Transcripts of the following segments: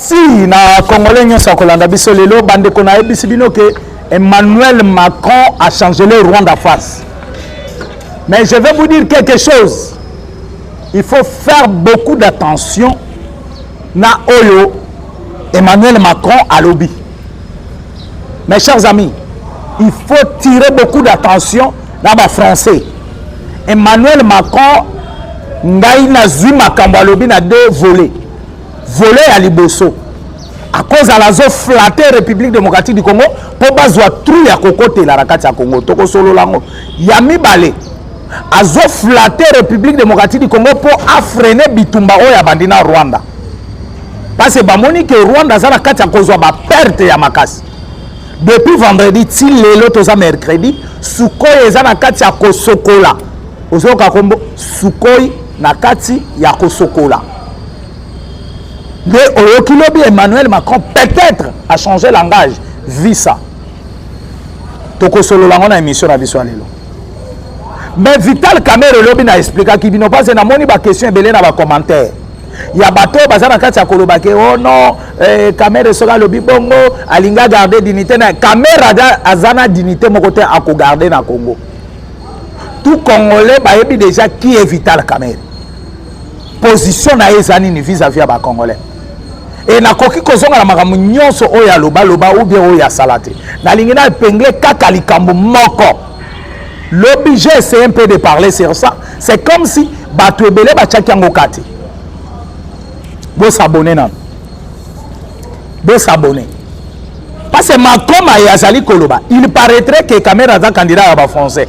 si na congolais nyonso akolanda biso lelo bandeko nayebisi bino ke emmanuel macron a change le rwanda face mais je vais vous dire quelque chose il faut faire beaucoup d'attention na oyo emmanuel macron alobi mes chers amis il faut tirer beaucoup d'attention na bafrançais emmanuel macron ngai nazwi makambo alobi na deux volets Volet ya liboso akozala azoflate république démocratique du congo mpo bazwa trou ya kokotela na kati ya congo tokosolola yango ya mibale azoflate république démocratique du congo mpo afrene bitumba oyo abandi na rwanda parce bamoni ke rwanda aza na kati ya kozwa baperte ya makasi depuis vendredi ti lelo toza mercredi sukoi eza na kati ya kosokola ozoyoka kombo sukoi na kati ya kosokola nde oyoki lobi emmanuel macron peut-être a changer langage visa tokosolola yango na émission na biso ya lelo mais vital camere lobi na explikaki bino parce namoni baquestion ebele na bacommentaire ya bato oyo baza na kati ya koloba ke o oh no eh, camere soki alobi bongo alingi agarde dignité na camere aza na dignité moko te akogarde na congo tout congolais bayebi déjà qui est vital camere position na ye eza nini vis-à-vis ya bacongolais e nakoki kozonga na makambo nyonso oyo alobaloba ou bien oyo asala te nalingi na epengle kaka likambo moko lobi j'ai essayé un peu de parler sur ça c'est comme si bato ebele batiaki yango kati bosabone nano bosabone parce que makoma ye azali koloba il paraîtrait que kamera aza candidat ya bafrançais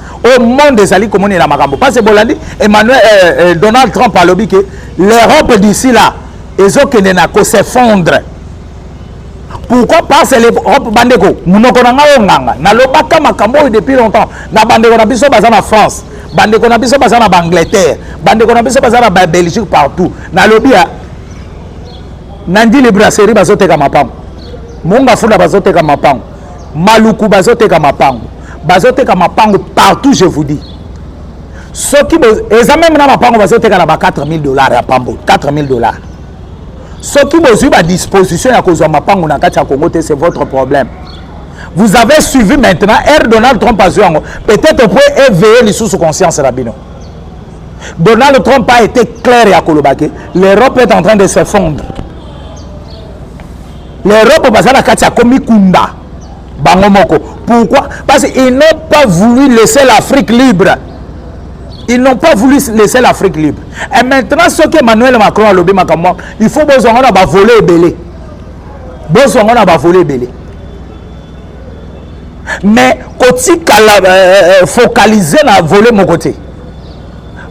oyo monde ezali komonela makambo parce bolandi emmanuel euh, euh, donald trump alobi ke l'europe d'ici là ezokende na kosefondre pourquoi parce l'europe bandeko monoko na ngai oyo nganga nalobaka makambo oyo depuis longtemps na bandeko na biso baza na france bandeko na biso baza na baangleterre bandeko na biso baza na babelgique partout nalobi ya nandi librasserie bazoteka mapango monga funda bazoteka mapango maluku bazoteka mapango bazoteka mapango partout je vous dis soki eza meme na mapango bazoteka na ba 4000 dollars ya pambo 4000 dollars soki bozwi badisposition ya kozwa mapango na kati ya congo te c'est votre problème vous avez suivi maintenant r donald trump azwi yango peut-être mpo éveille lisusu conscience na bino donald trump a été clair ya koloba ke l'europe est en train de s'effondre l'europe baza na kati ya komikunda bango moko pourquoi parce qu'ils n'ont pas voulu laisser l'afrique libre ils n'ont pas voulu laisser l'afrique libre et maintenant soki emmanuel macron alobi makambo il faut bozwa ngo na bavole ebele bozwa ngo na bavole ebele mais kotikala euh, euh, euh, focalise na vole moko te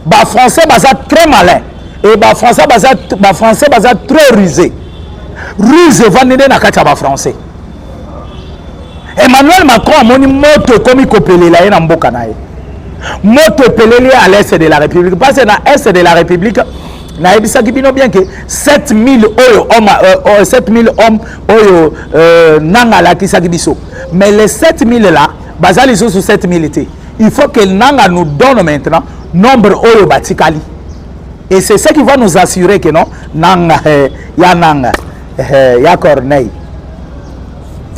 ba français baza très malin et ba français baza ba français baza très rusé ruse evandi nde na kati ya ba français emmanuel macron amoni moto ekomi kopelela ye na mboka na ye moto epeleli ye à l'est de la république parce que na est de la république nayebisaki bino bien ke 7000 oyo homme, euh, 7000 euh, homme oyo euh, nanga alakisaki biso mais les 7000 là baza lisusu 7000 te il faut que nanga nous donne maintenant nombre oyo batikali et c'est ça qui va nous assurer que non nanga eh, ya nanga eh, ya corneille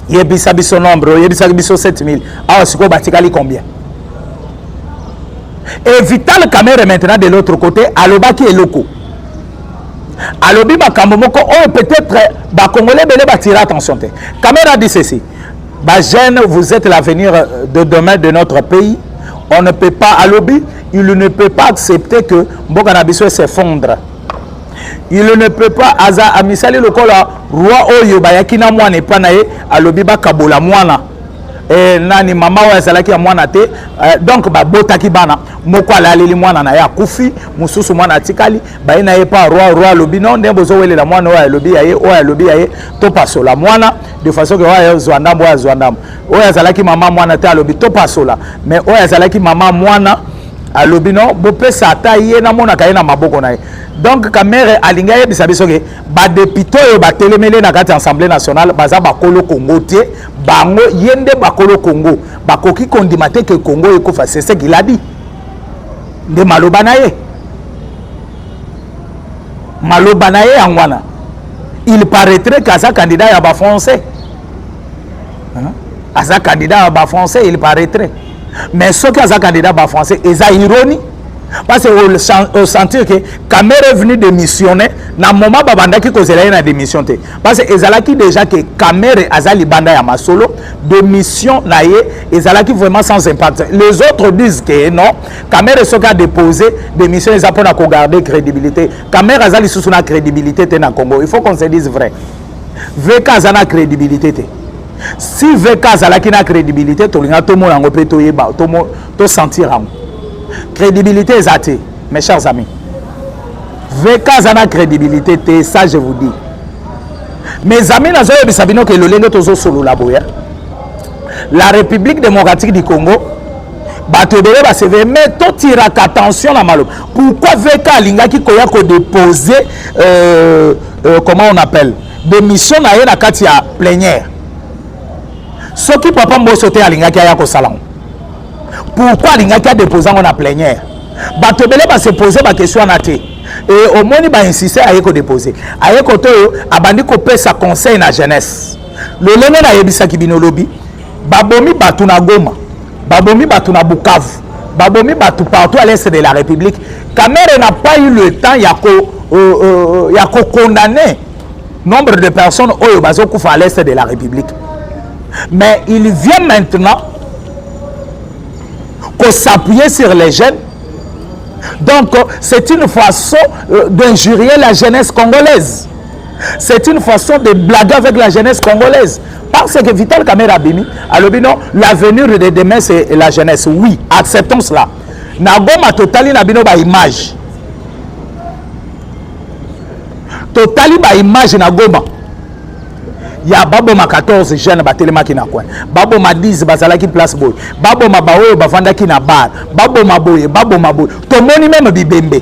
yebisa biso nombre oyebisaki biso 7000 awa sikoyo batikali combien et vital camere maintenant de l'autre côté alobaki eloko alobi makambo moko oyo peut-être bakongole ebele batira attention te camere adi ceci Ba jeunes, vous êtes l'avenir de demain de notre pays. On ne peut pas, à l'objet, il ne peut pas accepter que Mboka Nabiso s'effondre. Il ne peut pas, aza amisali lokola roi oyo bayaki na mwana epa na ye alobi bakabola mwana eh, nani mama oyo azalaki ya mwana te eh, donc babotaki bana moko alaleli mwana na ye akufi mosusu mwana atikali baye na ye pa roi roi alobi no nde bozowelela mwana oyo alobi ya ye oyo alobi ya ye topasola mwana de façon que oyo azwa ndambo oyo azwa ndambo oyo azalaki mama mwana te alobi topasola mais oyo azalaki mama mwana alobi no bopesa ata ye namonaka ye na maboko na ye donc kamere alingi ayebisa biso ke badepute oyo batelemeli na kati ya assemblée nationale baza bakolo kongo te bango ye nde bakolo kongo bakoki kondima te ke kongo ekufa sese kiladi nde maloba na ye maloba na ye yango wana il paraîtrait que aza candidat ya bafrançais aza candidat ya bafrançais il paraîtrait mais soki aza candidat bafrançais eza ironie parce que osentir ke camere venu démissionner na moment babandaki kozela ye na démission te parce que ezalaki déjà ke camere aza libanda ya masolo démission na ye ezalaki vraiment sans impact les autres disent ke non kamere soki adepose démission eza mpo na kogarde crédibilité kamere aza lisusu na crédibilité te na congo il faut qu'on se dise vrai vk aza na crédibilité te si vk azalaki na crédibilité tolinga tomona yango mpe toyeba tosentir yango crédibilité eza te mes chers amis vk aza na crédibilité te ça je vous dis mes amis nazoyebisa bino ke lolenge tozosolola boye la république démocratique du congo bato ebele basevere mais totiraka attention na maloba pourquoi vk alingaki koya kodépose euh, euh, comment on appelle démission na ye na kati ya plenière soki papa mboso te alingaki aya kosala ngo pourquoi alingaki adépose yango na plenière bato ebele basepose bakestion wana te e omoni bainsiste aye kodépose aye kote oyo abandi kopesa conseil na jeunesse Lolenge nayebisaki bino lobi, babomi bato na Goma, babomi bato na Bukavu, babomi bato partout à l'est de la République. Kamere n'a pas eu le temps ya ko euh, euh, ya ko condamner nombre de personnes oyo bazokufa à l'est de la République. Mais il vient maintenant ko s'appuyer sur les jeunes. Donc c'est une façon euh, d'injurier la jeunesse congolaise. c'est une façon de blaguer avec la jeunesse congolaise parce que vital kamere abimi alobi non l'avenir de demain c'est la jeunesse oui acceptons cela na goma totali na bino baimage totali baimage na goma ya baboma 14 jeune batelemaki na coin baboma 10 bazalaki place boye baboma baoyo bavandaki na bar baboma boye baboma boye tomoni meme bibembe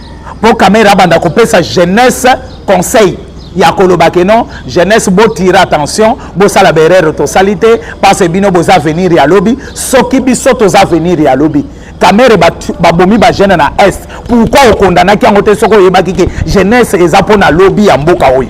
mpo kamere abanda kopesa jeunesse conseil ya koloba ke non jeunesse botire attention bosala baerreur tosali te parce bino boza avenir ya lobi soki biso toza avenir ya lobi kamere babomi ba bajeune na est pourkui okondanaki yango te soki oyebaki ke jeunesse eza mpo na lobi ya mboka oyo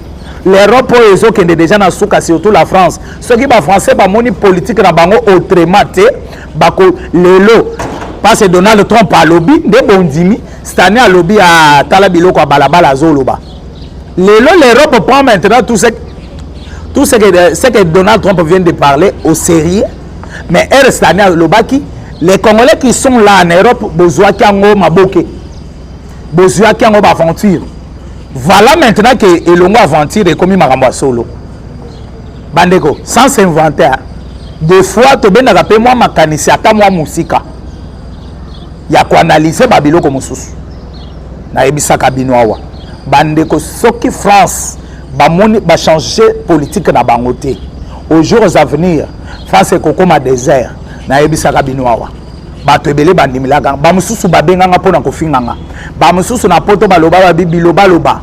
l'europe oyo ezokende deja na suka surtout la france soki bafrançais bamoni politike na bango autrement te bako lelo parce donald trump alobi nde bondimi stane alobi atala ah, biloko ya balabala azoloba lelo l'europe prend maintenant tout ce, tout ce que, ce que donald trump vient de parler au sérieux mais r stane alobaki les congolais qui sont là en europe bozwaki yango maboke bozuaki yango baaventure voilà maintenant ke elongo aventure ekomi makambo ya solo bandeko sans s'inventer des fois tobendaka mpe mwa makanisi ata mwa mosika ya koanalyse babiloko mosusu nayebisaka bino awa bandeko soki france bamoni bachange politike na bango te aux jours à venir france ekokoma désert nayebisaka bino awa bato ebele bandimelaka bamosusu babenganga mpo na kofinganga bamosusu na poto baloba babi bilobaloba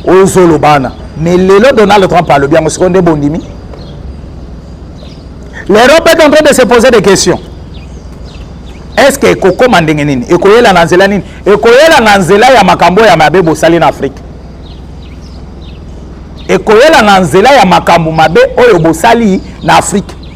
oyo ozoloba wana mais lelo donald trump alobi yango sikoyo nde bondimi l'europe est en train de se poser des questions est ce que ekokoma ndenge nini ekoyela na nzela nini ekoyela na nzela ya makambo ya mabe bosali na afrique ekoyela na nzela ya makambo mabe oyo bosali na afrique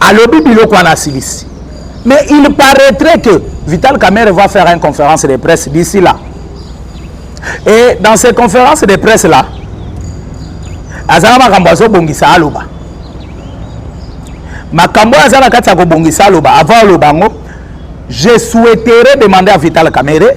alobi biloko wana asilisi mais il paraîtrait que vital kamere va faire une conférence de presse d'ici là et dans ces conférences de presse là azala makambo azobongisa aloba makambo oyo aza na kati ya kobongisa aloba avant aloba yango je souhaiterais demander à vital kamere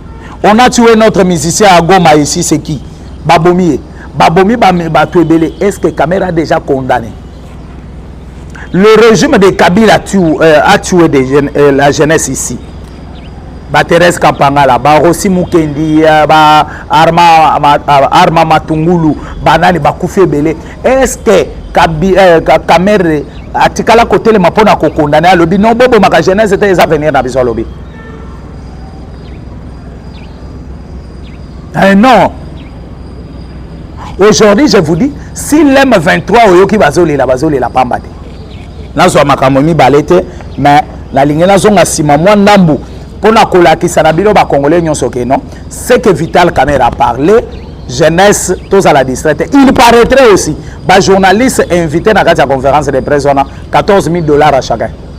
on a tué notre musicien à Goma ici c'est qui babomi ye babomi bato ebele est ce que Kamere a déjà condamné le régime de Kabila tu, euh, a tué de, euh, la jeunesse ici ba Thérèse Kampangala ba Rossi Mukendi euh, ba Arma ma, euh, Arma Matungulu banani bakufi ebele est ce que Kabi, euh, Kamere atikala kotelema mpo na kokondane alobi no bobomaka jeunesse te eza venir na biso alobi Eh non aujourd'hui je vous dis si lem 23 oyoki bazolela bazolela pamba te nazwa makambo mibale te mais nalingi nazonga nsima mwa ndambu mpo na kolakisa na bino bakongole nyonso ke non ce que vital camere a parlé jeunesse tozala distrait te il paraîtrait aussi bajournaliste invité na kati ya conférence de presse wana 14 000 dollars à chacun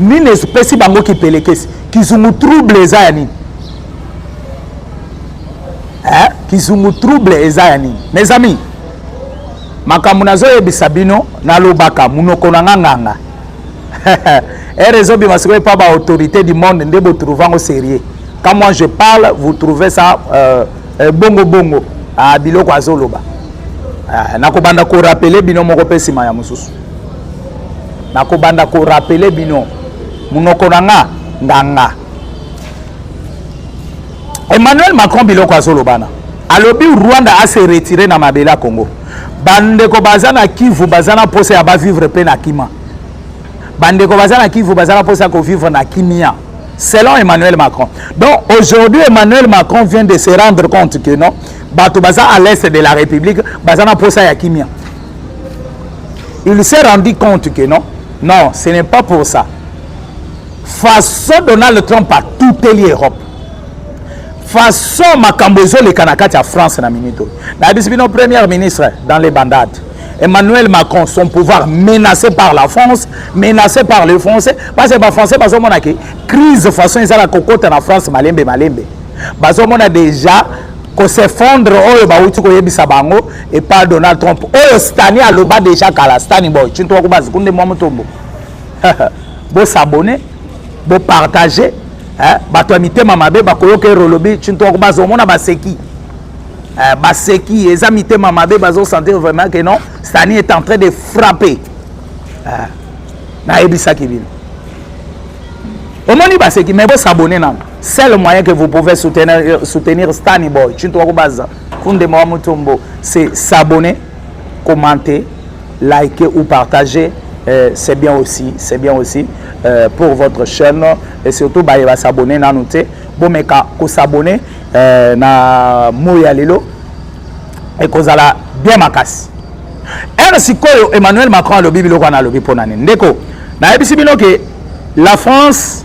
nini espesi bango kipelekesi kizungu trouble eza ya nini eh? kizungu trouble eza ya nini mes amis makambo nazoyebisa bino nalobaka monoko na nga nganga ere ezobima sikoyo epa baautorité du monde nde botrouve yango sérieux quand moi je parle vous trouvez ça euh, euh, bongo bongo ah, biloko azoloba ah, nakobanda korapele bino moko mpe nsima ya mosusu nakobanda korapele bino monoko na nga nganga emmanuel macron biloko azolobana alobi rwanda ase retire na mabele ya congo bandeko baza na kivu baza na mposa ya bavivre mpe na kima bandeko baza na kivu baza na mposa ya kovivre na kimia selon emmanuel macron donc aujourd'hui emmanuel macron vient de se rendre compte que non bato baza à l'est de la république baza na mposa ya kimia il s'est rendu compte que non non ce n'est pas pour ça façon donald trump atuteli europe façon makambo ezoleka na kati ya france na minute oyo nayebisi bino première ministre dans les bandades emmanuel macron son pouvoir menacé par la france menacé par les français parce que bafrançais bazomonaki crise façon ezala kokota na france malembe malembe bazomona déjà ko s'effondre oyo bauti koyebisa bango epa donald trump oyo stani aloba deja kala stani boy cinto wakubazi kunde mwa motombo bosabone bopartage bato ya mitema mabe bakoyoka erolobi cinto wakubazi omona baseki eh, baseki eza mitema mabe bazosentir vraiment que non stani est en train de frapper eh, nayebisaki bino omoni baseki mai bosabone nano seul moyen que vous pouvez soutenir, euh, soutenir stani boy cinto wakubaza kundema wa mutombo c'est s'abonner commenter liker ou partager euh, c'est bien aussi c'est bien aussi euh, pour votre chaîne et surtout baye ba s'abonner nanu te bomeka ko s'abonner euh, na moyi ya lelo ekozala bien makasi ere sikoyo emmanuel macron alobi biloko wana alobi mpo na nini ndeko nayebisi bino ke la france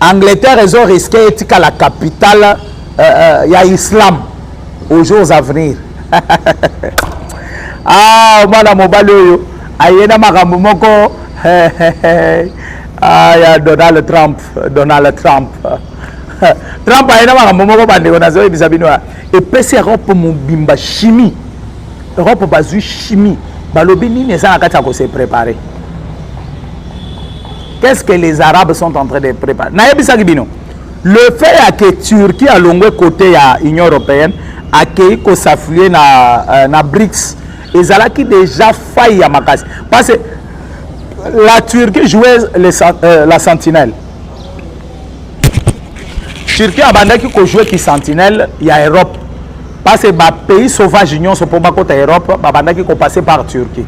Angleterre ezo risque etikala capitale euh, euh, ya islam aux jours à venir ah mwana mobali oyo aye na makambo moko ah, ya donald trump donald trump trump aye na makambo moko bandeko nazoyebisa bino ya epesi europe mobimba chimie europe bazwi chimie balobi nini eza na kati ya kose prepare qu'est-ce que les arabes sont en train de préparer nayebisaki bino le fait ya ke turquie alongwe côté ya union européenne akei kosafuye na, euh, na brics ezalaki déjà faille ya makasi parce que la turquie jouait les, euh, la sentinelle turquie abandaki kojoue kisentinelle ya europe parce que ba pays sauvage nyonso mpo bakota europe babandaki kopasser par turquie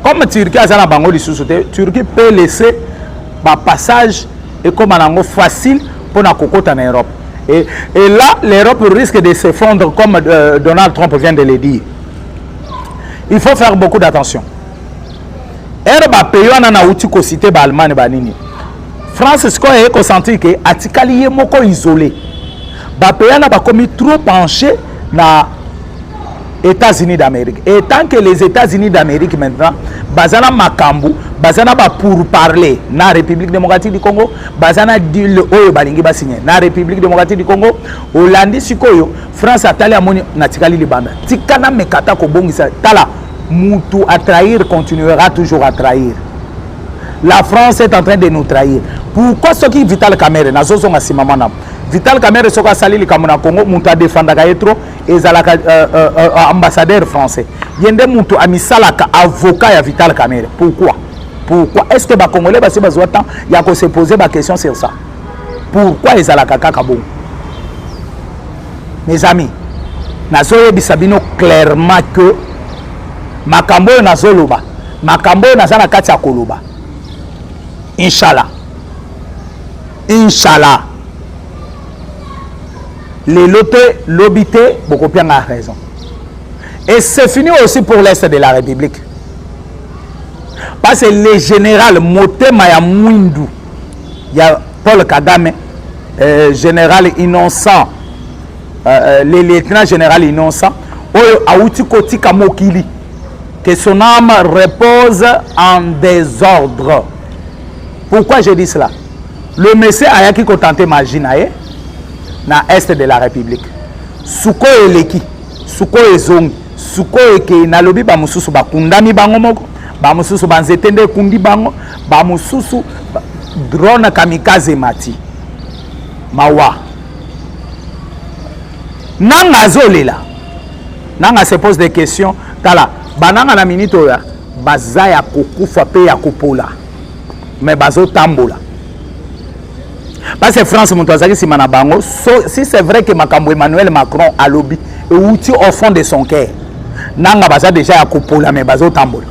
comme turquie aza na bango lisusu te turquie peut laisser bapassage ekóma na yango facile mpo na kokota na europe et, et là l'europe risque de s'effondre comme euh, donald trump vient de le dire il faut faire beaucoup d'attention ere bapeyi wana nauti kosite baallemane banini france sikoyo eye kosentir ke atikali ye moko isole bapeyi wana bakomi trop penche na états-unis d'amérique et tant que les états-unis d'amérique maintenant baza na makambo baza na bapourparler na république démocratique du congo baza na dile oyo balingi basigne na république démocratique du congo olandi sikoyo france atali amoni natikali libanda tika na mekata kobongisa tala mutu a trahir continuera toujours a trahir la france est en train de nous trahir pourquoi soki vital camere nazozonga nsima mwana vital camere soki asali likambo na congo moto adefandaka ye trop ezalaka euh, euh, euh, ambassadeur français ye nde moto amisalaka avocat ya vital camere pourquoi pourquoi est ce que bacongolais basi bazwa temps ya kose poser baquestion sur ça pourquoi ezalaka kaka bongo mes amis nazoyebisa bino clairement que makambo oyo nazoloba makambo oyo naza na kati ya koloba inshallah inshallah lelo te lobi te bokopianga raison et c'est fini aussi pour l'est de la république parce que le général motema ya mwindu ya Paul Kagame, euh, général innocent, euh, euh, le lieutenant général innocent, oyo awuti kotika mokili, que son âme repose en désordre. Pourquoi je dis cela? Le monsieur ayaki kotante magie na ye na est de la République. Suko eleki, suko ezongi, suko ekei nalobi ba mosusu bakundami bango moko, ba mosusu ba nzete nde ekundi bango, ba mususu drone kamikaze mati mawa nanga azolela nanga se pose des questions tala bananga na minute oyo baza ya kokufa mpe ya kopola me bazotambola base france moto azalaki nsima na bango so, si c'est vrai ke makambo emmanuel macron alobi euti au fond de son cœur nanga baza deja ya kopola me bazotambola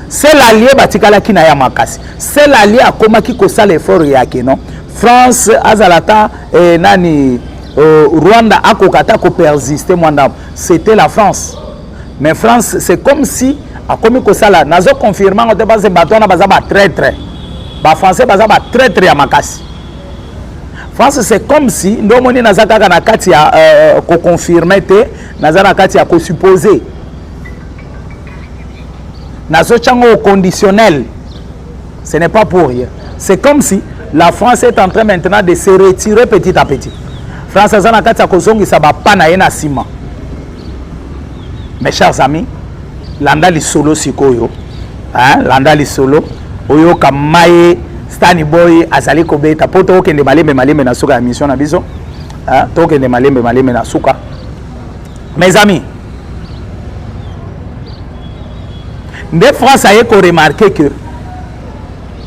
Sel alie batikalaki na ya makasi. Sel alie akomaki kosala effort yake non. France azala ata eh, nani euh, Rwanda akoka ata ko persister mwanda. C'était la France. Mais France c'est comme si akomi kosala nazo confirmer ngo te parce que bato wana baza ba traitre. Ba français baza ba traitre ya makasi. France c'est comme si ndio omoni naza kaka na kati ya euh, euh ko confirmer te naza na kati ya ko supposer nazotya ngo au conditionnel ce n'est pas pour rien c'est comme si la france est en train maintenant de se retirer petit à petit france aza na kati ya kozongisa bapa na ye na nsima mes chers amis landa lisolo sikoyo hein? landa lisolo oyoka maye stani boy azali kobeta mpo tokokende malembe malembe na suka ya mission na biso tokokende malembe malembe na suka mes amis nde france aye koremarke que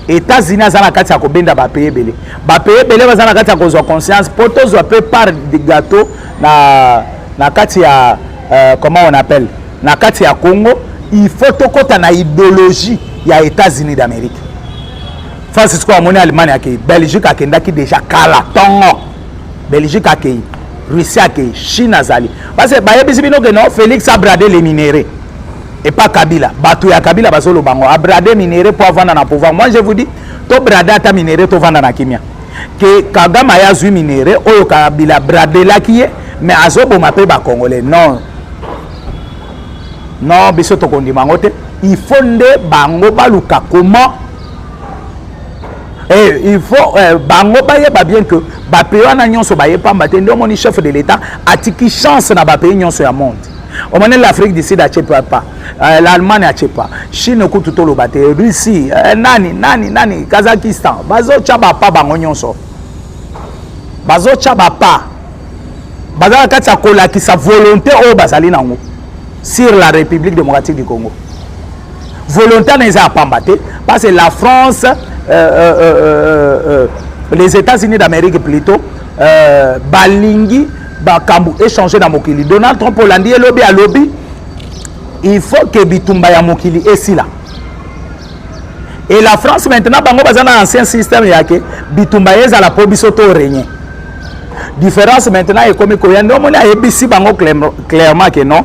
états-unis aza na kati ya kobenda bapeye ebele bapeye ebele baza na kati ya kozwa conscience mpo tozwa mpe part de gâteau na, na kati ya euh, comment on appelle na kati ya congo il faut tokɔta na idéologie ya états-unis d'amérique francis ko amoni allemagne ake belgique akendaki déjà kala ntongo belgique akei russie akei chine azali base bayebisi bino ke non félix abrade le minere epa kabila bato ya kabila bazoloba yango abrade minere mpo avanda na pouvoir moi je vous dis tobrade ata minere tovanda na kimia ke kagame aye azwi minere oyo kabila bradelaki ye mais azoboma mpe bacongolais non non biso tokondima yango te il faut nde bango baluka comment Eh, il faut eh, bango bayeba bien que bapays wana nyonso baye pamba te nde omoni chef de l'état atiki chance na bapays nyonso ya monde omoni l'afrique du sud atie papa eh, l'allemagne atie pa chine kutu toloba te russie eh, nani nani nani kazakistan bazotya bapa bango nyonso bazotya bapa baza na kati ya kolakisa volonté oyo bazali nango sur la république démocratique du congo volontana eza ya pamba te parce que la france euh, euh, euh, euh, euh les états-unis d'amérique plutôt euh, balingi bakambo échange na mokili donald trump olandi ye lobi alobi il faut ke bitumba ya mokili esila et la france maintenant bango baza na ancien système yake bitumba ezala mpo biso to regne différence maintenant ekomi koya nde omoni ayebisi bango clairement ke non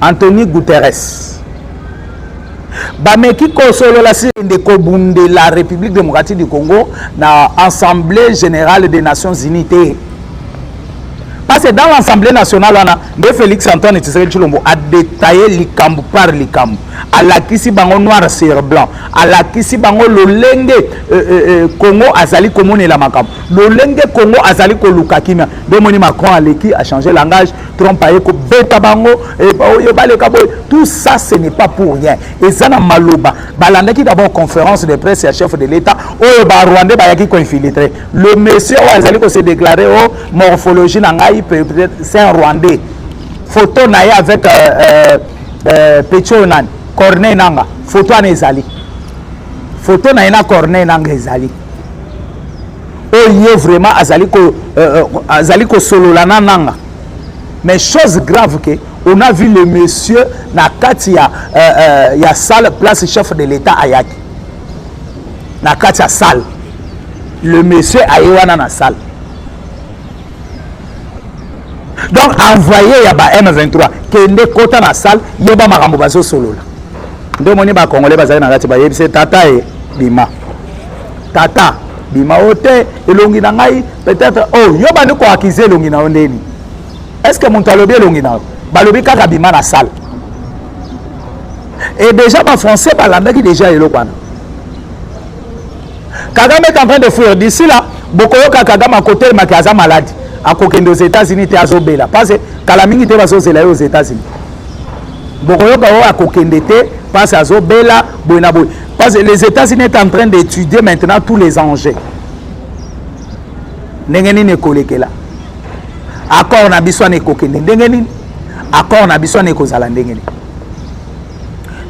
Anthony Guterres bameki kosolola sende kobundela république démocratique du congo na assemblée générale des nations unies te parce que dans l'assemblée nationale wana nde félix antoine tshisekedi tshilombo adetaille likambo par likambo alakisi bango noir sur blanc alakisi bango lolenge euh, euh, euh, congo azali komonela makambo lolenge congo azali koluka kimia nde omoni macron aleki achange langage Trump aye kobeta bango eh, oyo baleka boye tout ça ce n'est pas pour rien eza na maloba balandaki d'abord conférence de presse ya chef de l'état oyo barwandais bayaki koinfiltre le monsieur oyo azali kose déclare o oh, morphologie na ngai peut-être c'est un rwandais photo na ye avec euh, euh, euh, petit oyo nani corneille nanga photo wana ezali photo na ye na corneille nanga ezali oyo vraiment azali ko euh, euh, azali kosolola na nanga mais chose grave que on a vu le monsieur na kati ya, euh, euh, ya salle place chef de l'état ayaki na kati ya salle le monsieur aye wana na salle donc envoyé ya ba m23 kende kota na salle yeba makambo bazosolola nde omoni bacongolais bazali na kati bayebisi tata ye bima tata bima yo te elongi na ngai peut-être o oh, yo bandi koakize elongi na yo ndeni est ce que moto alobi elongi na yo balobi kaka bima na sale et déjà bafrançais balandaki déjà eloko wana kagame est en train de fuir d'ici là bokoyoka kagame akotelemaki aza maladi akokende aux états-unis te azobela parce kala mingi te bazozela ye aux états-unis bokoyoka oyo akokende te mpasi azobela boye na boye Parce que les États-Unis est en train d'étudier maintenant tous les enjeux. ndenge nini ekolekela accord na biso wana ekokende ndenge nini accord na biso wana ekozala ndenge nini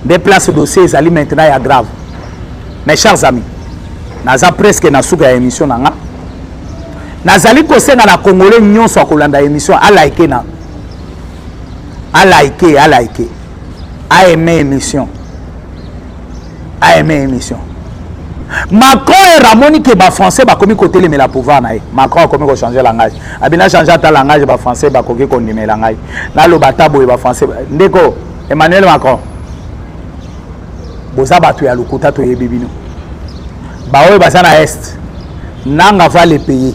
nde place dossier ezali maintenant ya grave mes chers amis naza presque na suka ya émission na nga nazali kosenga na congolais nyonso akolanda émission alaike na alaike alaike a aime émission a aime émission macron ere amoni ke bafrançais bakomi kotelemela pouvoir na ye macron akomi kochange langage abina change ata langage bafrançais bakoki kondimela ngai naloba ata boye bafrançais ndeko emmanuel macron boza bato ya lokuta toyebi bino baoyo baza na est nanga va le paye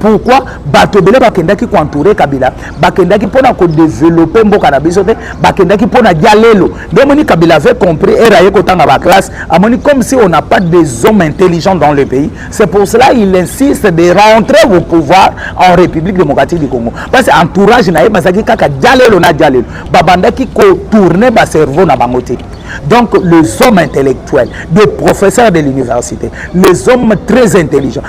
pourquoi bato ebele bakendaki koentoure kabila bakendaki mpo na kodevelope mboka na biso te bakendaki mpo na dialelo nde omoni kabila avait compris ere aye kotanga baclasse amoni comme si on n'a pas des hommes intelligents dans le pays c'est pour cela il insiste de rentrer au pouvoir en république démocratique du congo parce que entourage na ye bazalaki kaka dialelo na dialelo babandaki kotourne bacerveau na bango te Donc les hommes intellectuels, des professeurs de l'université, les hommes très intelligents,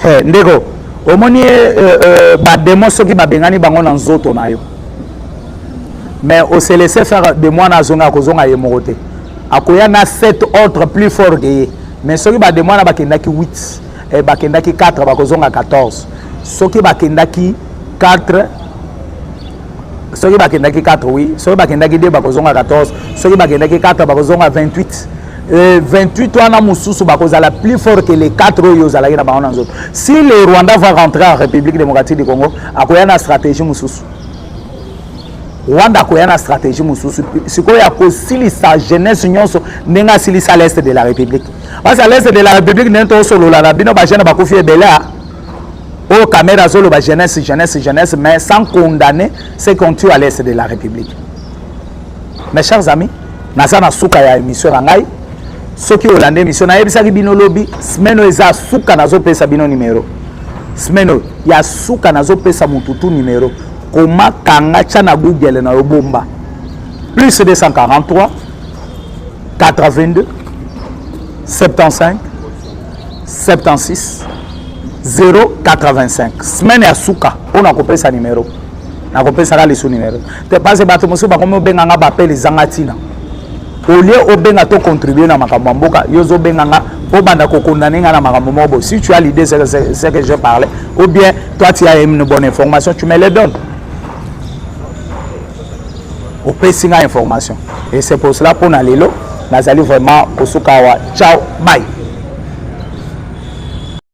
Hey, eh, ndeko omoni ye euh, euh, euh, bademo soki babengani bango na nzoto na yo mais au se laisser faire de mwana azonga akozonga ye moko te akoya na sept autres plus fort ke ye mais soki bademo wana bakendaki 8 eh, bakendaki 4 bakozonga 14 soki bakendaki 4 soki bakendaki 4 oui soki bakendaki 2 bakozonga 14 soki bakendaki 4 bakozonga 28 Euh, 28 wana mosusu bakozala plus fort que les 4 oyo ozalaki na bango na nzoto si le rwanda va rentrer en république démocratique du congo akoya na stratégie mosusu rwanda akoya na stratégie mosusu sikoyo akosilisa jeunesse nyonso ndenge asilisa l'est de la république parce à l'est de la république ndenge tosolola na bino bajeune bakufi ebele a oyo kamere azoloba jeunesse jeunesse jeunesse mais sans condamner ce qu'on tue à l'est de la république Mes chers amis, naza na suka ya émission na ngai. Soki olanda émission nayebisaki bino lobi semaine oyo eza suka nazopesa bino numero. Semaine oyo ya suka nazopesa mutu tu numero. Koma kanga tya na Google na yo bomba. Plus 243 82 75 76 085 semaine ya suka mpo na kopesa numero nakopesaka lisu numero te parce bato mosusu bakomi obenga nga bapele ezanga ntina olie obenga to contribue na makambo ya mboka yo ozobenga nga obanda kokondane nga na makambo moko boye si tu as l'idée ce que je parlais ou bien toi tu as une bonne information tu me le donne opesi nga information et c'est pour cela mpo na lelo nazali vraiment kosuka awa ciao bye